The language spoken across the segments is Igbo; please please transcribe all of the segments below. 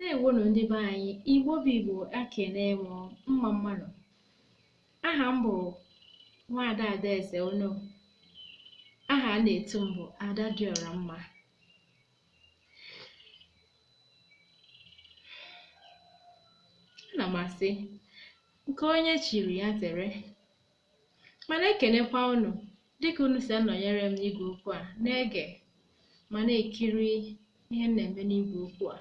Ndeewonu ndị be anyị, Igbo bụ Igbo ekene m mma mma nụ. Aha m bụ Nwaada Adaeze Ono. Aha a na-etu m bụ Ada Dịọra Mma. Ana m asị nke onye chiri ya zere. Ma na-ekenekwa unu dịka unu si anọnyere m n'igwe okwu a na-ege ma na-ekiri ihe m na-eme n'igwe okwu a.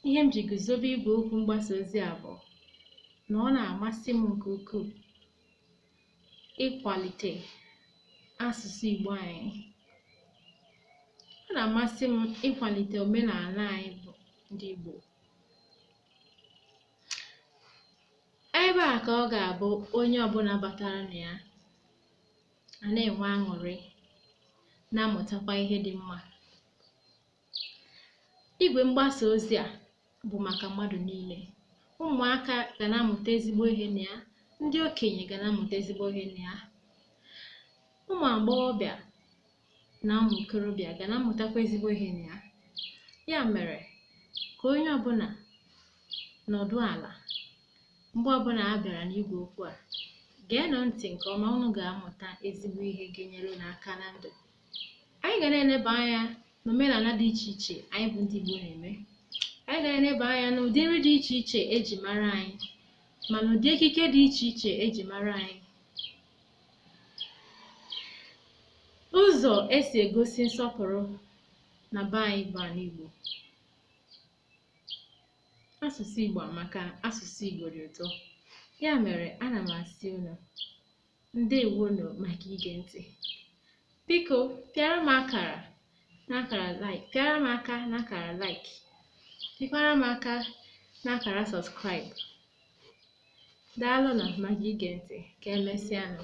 Ihe m ji guzobe igwe okwu mgbasa ozi a bụ na ọ na-amasị m nke ukwuu ịkwalite asụsụ Igbo anyị. Ọ na-amasị m ịkwalite omenala anyị bụ ndị Igbo. Ebe a ka ọ ga-abụ onye ọbụla batara na ya a na-enwe aṅụrị na-amụtakwa ihe dị mma. Igwe mgbasa ozi a bụ maka mmadụ niile. Ụmụaka ga na-amụta ezigbo ihe na ya, ndị okenye ga na-amụta ezigbo ihe na ya. Ụmụ agbọghọbịa na ụmụ okorobịa ga na-amụtakwa ezigbo ihe na ya ya mere ka onye ọbụla nọdụ ala mgbe ọbụla a bịara n'igwe okwu a geenụ ntị nke ọma unu ga-amụta ezigbo ihe ga-enyere unu aka na ndụ anyị ga na-eleba anya n'omenala dị iche iche anyị bụ ndị Igbo na-eme anyị ga na-eleba anya n'ụdị nri dị iche iche eji mara anyị ma n'ụdị ekike dị iche iche eji mara anyị Ụzọ e si egosi nsọpụrụ na be anyị bụ ala Igbo. Asụsụ Igbo amaka, asụsụ Igbo dị ụtọ. Ya mere, ana m asị unu ndewonu maka ige ntị. Biko, pịara m akara n'akara like, pịara m aka n'akara like, pịkwara m aka n'akara subscribe. Daalụ na maka ige ntị. Ka emesịa nụ.